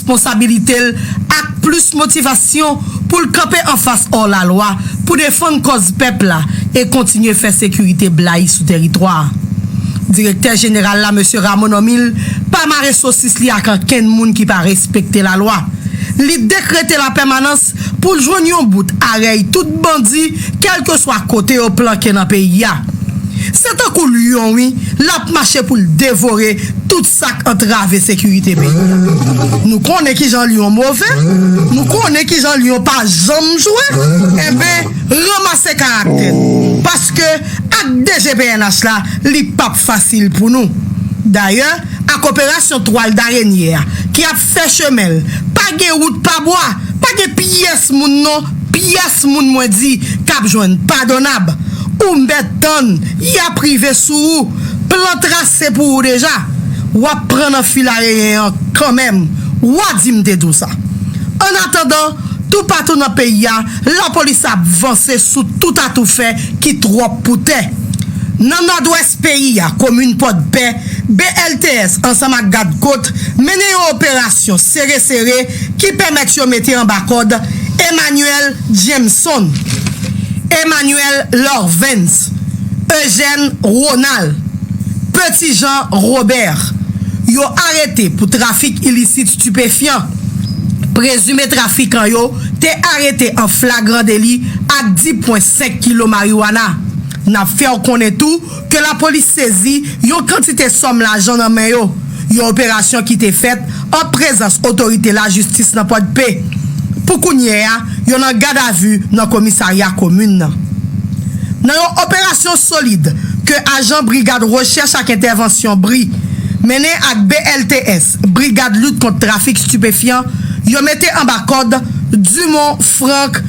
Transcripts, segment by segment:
responsabilite l ak plis motivasyon pou l kanpe anfas òlalwa pou defann kòz pèp la e kontinye fè sekirite blayi sou teritwa a. Direktè Jeneral la, Mesye Rameau Normil, pa mare sosis li ak ankenn moun ki pa respekte lalwa. Li dekrete lapèmanans pou l jwenn yon bout a rèy tout bandi kèlkeswa kote yo planke nan peyi a. Se tankou lyon wi l ap mache pou l devore tout Sa k antrave sekirite peyi a. Nou konnen ki jan lyon move, nou konnen ki jan lyon pa janm jwe, enben ranmase karaktè nou, paske ak DG pnh la, li p ap fasil pou nou. Dayè, ak operasyon twal darenye a, ki ap. Fè chemen l. Pa gen wout pa bwa. Pa gen pyès moun non, pyès moun mwen di k ap jwenn padonab. Ou mèt tann, y ap rive sou ou. Plan trase pou ou deja. W ap pran nan filareyen an kanmenm. Wa di m te di w sa. Annatandan, toupatou nan peyi a, lapolis ap vanse sou tout atoufè ki twòp pou tè. Nan Nòdwès. peyi a, komin Pòdpè, BLTS ansanm ak Gad Kot mennen yon operasyon sere sere ki pèmèt yo mete anba kòd Emmanuel Jameson, Emmanuel Lorvens, Eugène Ronald, Petit Jean Robert, yo arete pou trafik ilisit stipefyan. Prezime trafikan yo te arete an flagran deli ak 10 pwen 5 kilo mariwana. N ap fè w konnen tou ke lapolis sezi yon kantite sòm lajan nan men yo, yon operasyon ki te fèt an prezans otorite lajistis nan Pòdpe. Pou kounyè a, yo nan gadavi nan komisarya komin nan. Nan yon operasyon solid ke ajan Brigad Rechèch ak Entèvansyon, bri, mennen ak BLTS, Brigad lit kont trafik stipefyan yo mete anba kòd Dumont Franck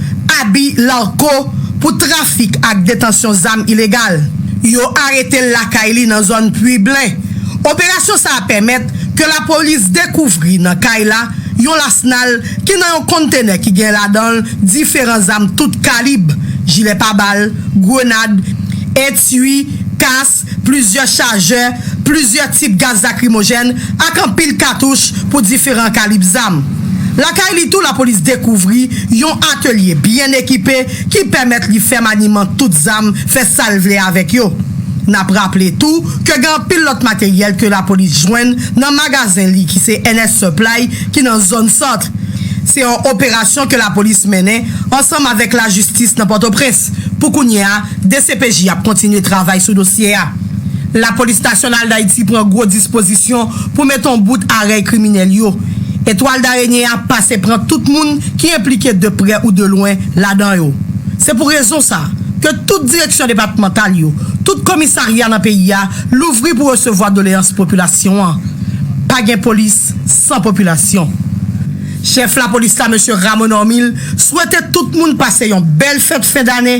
Aby Larco pou trafik ak detansyon zam ilegal. Yo arete l lakay li nan zòn Pui Blen. Operasyon sa a pèmèt ke lapolis dekouvri nan kay la yon lasnal ki nan yon konntenè ki gen ladan l diferan zam tout kalib, jilè pa bal, grenad, etui, kas, plizyè chajè plizyè tip gaz lakrimojèn ak anpil katouch pou diferan kalib zam. Lakay li tou lapolis dekouvri yon atelye byen ekipe ki pèmèt li fè maniman tout zam, fè sa l vle avèk yo. N ap raple tou ke gen anpil lòt materyèl ke lapolis jwenn nan magazen li ki se NS Supply ki nan zòn Centre. Se yon operasyon ke lapolis mennen ansanm avèk lajistis nan Pòtoprens pou kounye a. Dcpj ap kontinye travay sou dosye a. Lapolis Nasyonal Dayiti pran gwo dispozisyon pou met on bout a rèy kriminèl yo. Etwal Darenye a pase pran tout moun ki enplike de prè ou de lwen ladan yo. Se pou rezon sa ke tout direksyon depatmantal yo, tout komisarya nan peyi a louvri pou resevwa doleyans popilasyon an. Pa gen polis san popilasyon. Chèf lapolis la Mesye Ramon Normil swete tout moun pase yon bèl fèt fen dane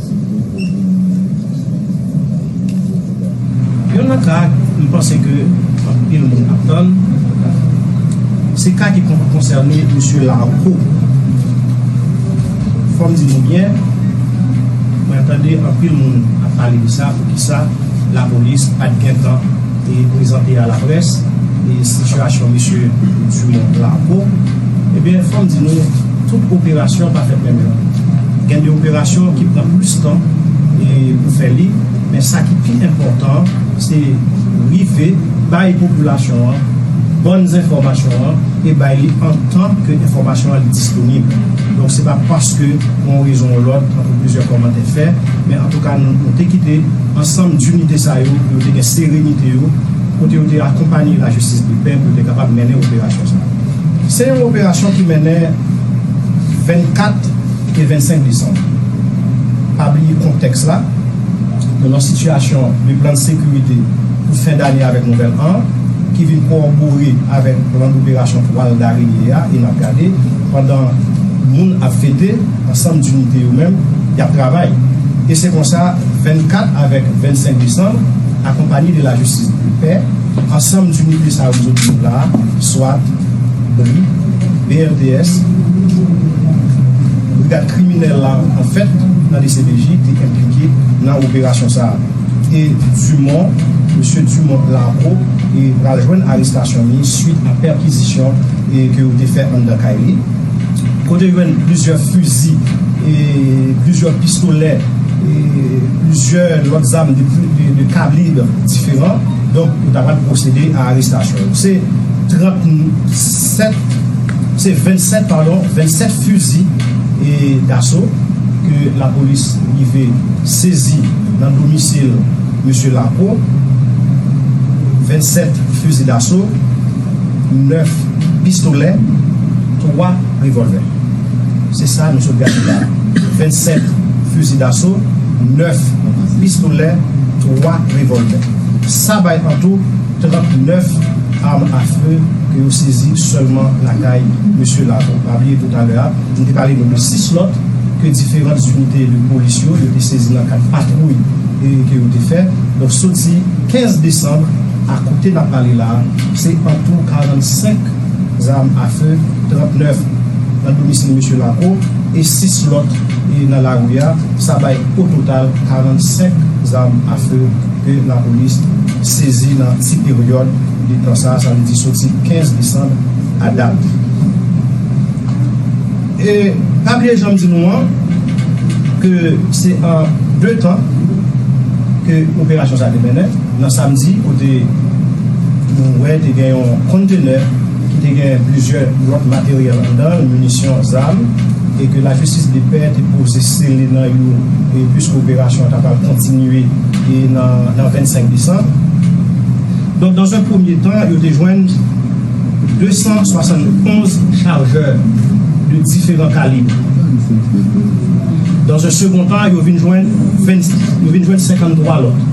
Yon lòt ka m panse ke anpil moun ap tann, se ka ki konsène Msye Larco. Fò m di nou byen, mwen tande anpil moun ap pale de sa, poukisa lapolis pa t gentan. te prezante a laprès e sitiyasyon Mesye Dumont Larco, ebyen fò m di nou tout operasyon pa fèt menm jan. Gen de operasyon ki pran plis tan e pou fè li, men sa ki pi enpòtan an se rive bay popilasyon an bòn zenfòmasyon an e bay li antan ke enfòmasyon an li disponib. Donk se pa paske pou yon rezon ou lòt tankou plizyè kòmantè fè, men antouka nou te kite. Ansanm dinite sa yo, yo te gen serenite yo, kote yo te akonpanye lajistis depè pou yo te kapab mennen operasyon sa. Se yon operasyon ki mennen 24 e 25 desanm. Pa bliye kontèks la, nou nan sitiyasyon de plan de sekirite pou fen dane avèk nouvèl an, ki vin kowòbore avèk plan doperasyon twal dareye a e n ap gade pandan moun ap fete. Ansanm Dinite yo menm, y ap travay. E se konsa, 24 avèk 25 desanm, akonpanye de la jistis e de pè, ansanm Dinite sa yo m zo di nou la a, swat, bri, BRDS, brigad kriminèl la an fèt nan dcpj te enplike nan operasyon sa a. E Dumon, mesye Dumon Larco e pral jwenn arestasyon li swit a pèkizisyon e ke yo te fè anndan kay li. Kote yo jwenn plizyè fizi, plizyè pistolè, plizyè lòt zam de kalib diferan, donk yo ta pral pwosede a arestasyon yo. Se 37, se 27 padon, 27 fizi daso ke lapolis rive sezi nan domisil Mesye Lapeau, 27 fizi daso. 9 pistolè, 3 revòlvè. Se sa nou sot gade la a. 27 fizi daso, 9 pistolè, 3 revòlvè. Sa bay an tou 39 arm a feu ke yo sezi sèlman lakay mesye Laveau. Pa bliye tou talè a, m te pale nou de 6 lòt ke diferan zinite de polis yo, yo te sezi nan kad patwouy ke yo te fè. Donk soti 15 desanm. A kote n ap pale la a, se antou 45 zam a fe, 39 nan domisil Mesye Laco e 6 lòt nan lari a, sa bay o total 45 zam a fe ke lapolis sezi nan ti peryòd de tan sa a, sa vle di soti 15 desanm a dat. E pa bliye jan m di nou an, ke se an 2 tan ke operasyon sa a te mennen. Nan samdi kote nou wè te gen yon kontenè ki te gen plizyè lòt materyèl anndan l, minisyon, zam e ke lajistis depè te poze sele nan yo puiske operasyon an ta pral kontinye nan 25 desanm. Donk dan zan premye tan yo te jwenn 271 chajè de diferan kalib. Dan zan segon tan yo vin jwenn 53 lòt.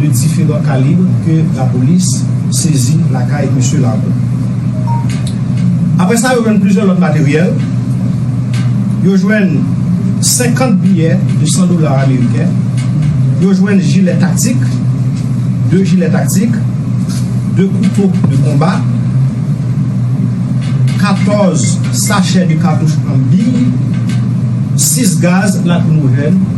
de diferan kalib ke lapolis sezi lakay Misye Laron. Apre sa yo jwenn plizyè lòt materyèl, yo jwenn 50 biyè de 100 dola ameriken, yo jwenn jilè taktik, 2 jilè taktik, 2 kouto de konba, 14 sachè de katouch an biy, 6 gaz lakrimojèn.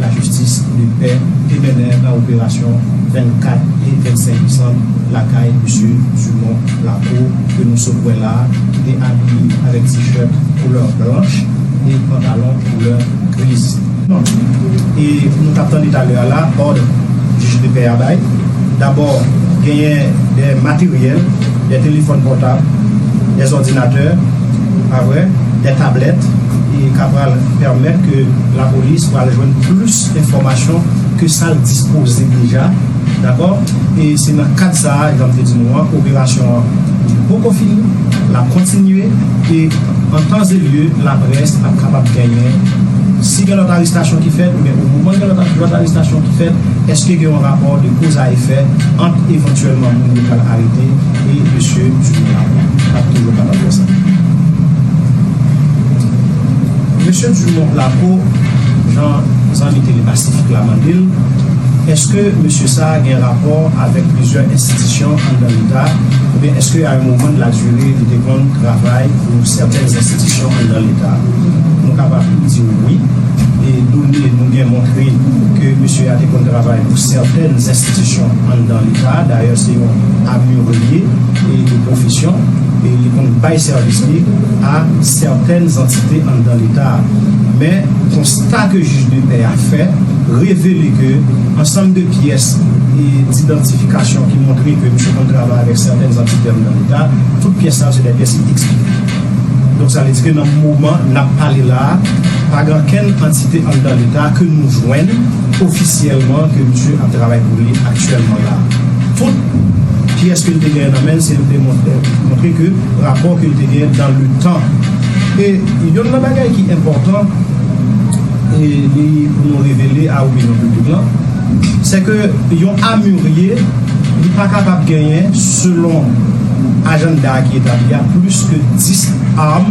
Lajistis de pè te mennen nan operasyon 24 e 25 desanm lakay Misye Dumont Lacour ke nou sot wè la a ki te abiye avèk t-shirt koulè blanch e pantalon koulè griz. Nonm e nou t ap tande talè a la, òd jij de pè a bay, dabò genyen dè materyèl, dè telefòn pòtab, dè òdinatè, Pa vre? Des tablettes et ka pral permettre que la police pral jwenn plus enfomasyon ke sa l dispoze deja dakò e se nan kad sa a jan m te di nou an operasyon an li poko fini l ap kontinye e an tan ze lye la près ap kapab genyen si gen lòt arestasyon ki fèt men o moman gen lòt arestasyon ki fèt eske gen yon rapò de koz a efè ant evantyèlman moun yo pral arete Wi mesye m sou men an wi. Map toujou kapab wè sa. Mesye Dumont Placo jan zanmi tele pasifik la mande l eske mesye sa gen rapò avèk plizyè enstitisyon anndan leta oubyen eske a yon moman de la dure li te konn travay pou sèten enstitisyon anndan leta nou kapab di w wi e done nou gen montre ke mesye a te konn travay pou sèten enstitisyon anndan Sa a dayè se yon amure l ye e de pwofesyon e li konn bay sèvis li a sètèn zantite anndan Leta a. Men, konsta ke jij de pè a fè revele ke ansanm de pyès didantifikasyon ki montre ke misye konn travay avèk sètèn zantite anndan Leta, tout pyès sa yo se dè pyès ki eksplike. Donk sa vle di ke nan moman n ap pale la a, pa gen ankenn antite anndan Leta ke nou jwenn ofisyèlman ke misye ap travay pou li aktyèlman. Sèlman la fot kiyès ke l te genyen nan men l se l te montre ke rapò ke l te genyen dan le tan. E yonn nan bagay ki enpòtan e li pou nou revele a opinyon piblik lan, sè ke yon amurye li pa kapab genyen selon ajannda a ki etabli a plis ke 10 arm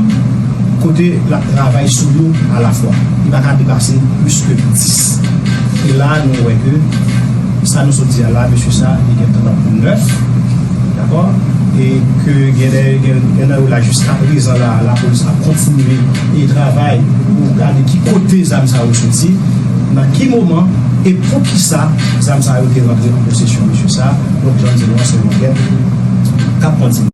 kote l ap travay sou yo a la fwa. Li pa ka depase plis ke 10. E la a nou wè ke. Sa nou sot di a la mesye sa li gentan nan pou nèf dakò e ke gen lè gen nan yo la jiskaprezan la lapolis ap kontinye e travay pou gade ki kote zam sa yo soti nan ki moman e poukisa zam sa yo te rantre an posesyon mesye sa donk jan di nou an se yon ankèt kap kontinye.